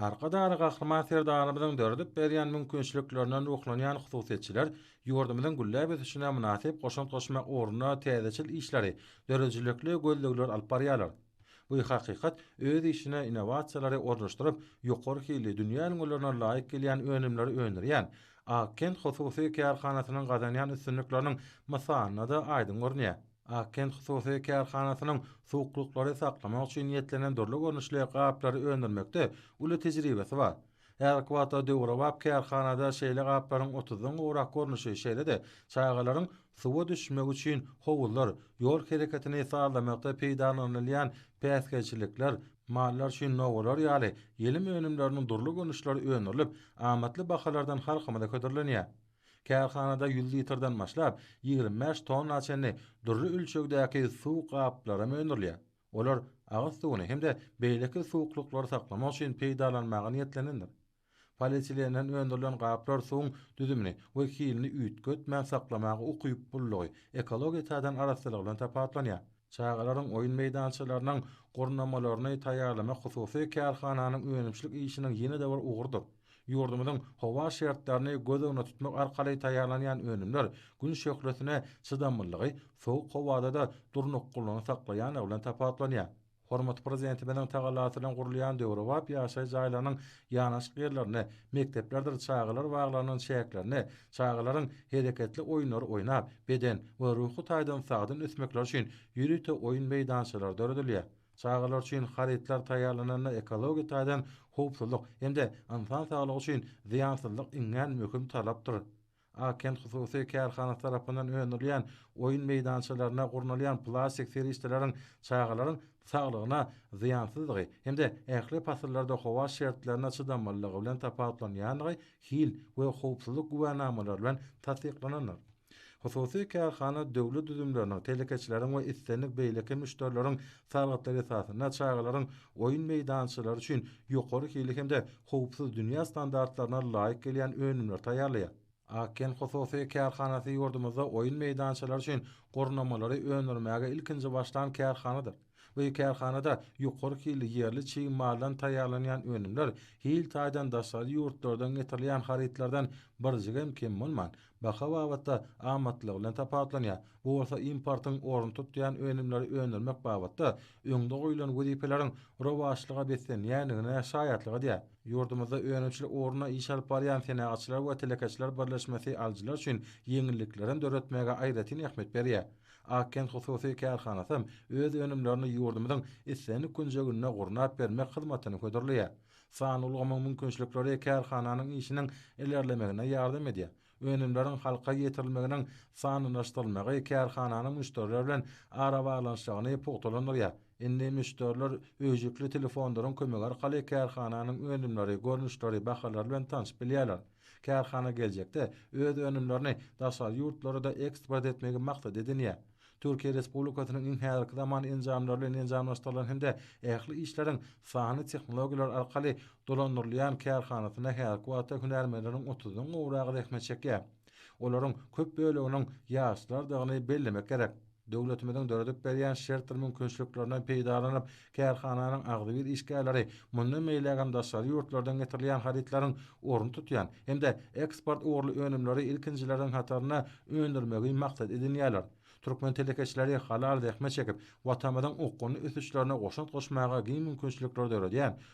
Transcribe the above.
Arkadagly Gahryman Serdarymyzyň döredip berýän mümkinçiliklerinden ruhlanýan hususyýetçiler ýurdumyzyň gülläp ösüşine mynasyp goşant goşmak ugrunda täzeçil işleri, döredijilikli gözlegleri alyp barýarlar. Bu hakykat öz işine innowasiýalary ornaşdyryp, ýokary hilli, dünýä ülňülerine laýyk gelýän önümleri öndürýän Akent hususy kärhanasynyň gazanýan üstünlikleriniň mysalynda-da aýdyň görünýär. Akkent hususy kärhanasynyň suwuklyklary saklamak üçin niýetlenen dürli görnüşli gaplary öndürmekde uly tejribesi bar. Häzirki wagtda döwrebap kärhanada şeýle gaplaryň otuzdan gowrak görnüşi, şeýle-de çagalaryň suwa düşmegi üçin howuzlar, ýol hereketini sazlamakda peýdalanylýan päsgelçilikler, mallar üçin nowalar ýaly ýelim önümleriniň dürli görnüşleri öndürilip, amatly bahalardan halkymyza hödürlenýär. Kärhanada ýüz litrden başlap, ýigrimi bäş tonna çenli dürli ölçegdäki suw gaplary hem öndürilýär. Olar agyz suwuny hem-de beýleki suwuklyklary saklamak üçin peýdalanmaga niýetlenendir. Polietilenden öndürilen gaplar suwuň düzümini we hilini üýtgetmän saklamaga ukyplylygy, ekologiýa taýdan arassalygy bilen tapawutlanýar. Çagalaryň oýun meýdançalarynyň gurnamalaryny taýýarlamak hususy kärhananyň önümçilik işiniň ýene-de bir ugrudyr. Ýurdumyzyň howa şertlerini göz öňüne tutmak arkaly taýýarlanýan önümler Gün şöhlesine çydamlylygy, sowuk howada-da durnuklylygyny saklaýandygy bilen tapawutlanýar. Hormatly Prezidentimiziň tagallasy bilen gurulýan döwrebap ýaşaýyş jaýlarynyň ýanaşyk ýerlerinde mekdeplerdir çagalar baglarynyň çäklerinde çagalaryň hereketli oýunlary oýnap, beden we ruhy taýdan sagdyn ösmekleri üçin ýörite oýun meýdançalary döredilýär. Çagalar üçin harytlar taýýarlananda ekologiýa taýdan howpsuzlyk hem-de ynsan saglygy üçin zyýansyzlyk iňňän möhüm talapdyr. Ak-kent hususy kärhanasy tarapyndan öndürilýän oýun meýdançalarynda gurnalýan plastik serişdeleriň çagalaryň saglygyna zyýansyzdygy hem-de ähli pasyllarda howa şertlerine çydamlylygy bilen tapawutlanýandygy hil we howpsuzlyk güwänamalary bilen tassyklanandyr. Hususy kärhana döwlet düzümleriniň, telekeçileriň we islendik beýleki müşderileriň salgytlary esasynda çagalaryň oýun meýdançalary üçin ýokary hilli hem-de howpsuz dünýä standartlaryna laýyk gelýän önümleri taýýarlaýar. Akgen hususy kärhanasy ýurdumyzda oýun meýdançalary üçin gurnamalary öndürmäge ilkinji başlan kärhanadyr. Bu kärhanada ýokary hilli ýerli çig maldan taýýarlanýan önümler hil taýdan daşary ýurtlardan getirilýän harytlardan birjigem kem bolman, baha babatda amatlygy bilen tapawutlanýar. Bu bolsa importyň ornuny tutýan önümleri öndürmek babatda öňde goýlan wezipeleriň rowaçlyga beslenýändigine şaýatlyk edýär. Ýurdumyzda önümçilik ugrunda iş alyp barýan Senagatçylar we telekeçiler birleşmesi alyjylar üçin ýeňilliklerem döretmäge aýratyn ähmiýet berýär. Akkent hususy kärhanasam öz önümlerini ýurdumyzyň islendik künjeginde gurnap bermek hyzmatyny hödürleýär. Sanly ulgamyň mümkinçilikleri kärhananyň işiniň ilerlemegine ýardam edýär. Önümleriň halka ýetirilmeginiň sanlylaşdyrylmagy kärhananyň müşderiler bilen arabaglanyşygyny pugtalandyrýar. Indi müşderiler öýjükli telefonlaryň kömegi arkaly kärhananyň önümleri, görnüşleri, bahalary bilen tanşyp bilýärler. Kärhana geljekde öz önümlerini daşary ýurtlara-da eksport etmegi maksat edinýär. Türkiýe Respublikasynyň iň häzirki zaman enjamlary bilen enjamlaşdyrylan hem-de ähli işleriň sanly tehnologiýalar arkaly dolandyrylýan kärhanasynda häzirki wagtda hünärmenleriň otuzdan gowragy zähmet çekýär. Olaryň köp böleginiň ýaşlardygyny bellemek gerek. Döwletimiziň döredip berýän şertdir mümkinçiliklerinden peýdalanyp, kärhananyň agzybir işgärleri mundan beýlägem daşary ýurtlardan getirilýän harytlaryň ornuny tutýan hem-de eksport ugurly önümleri ilkinjileriň hatarynda öndürmegi maksat edinýärler. Türkmen telekeçileri halal zähmet çekip, Watanymyzyň okgunly ösüşlerine goşant goşmaga giň mümkinçilikleri döredýän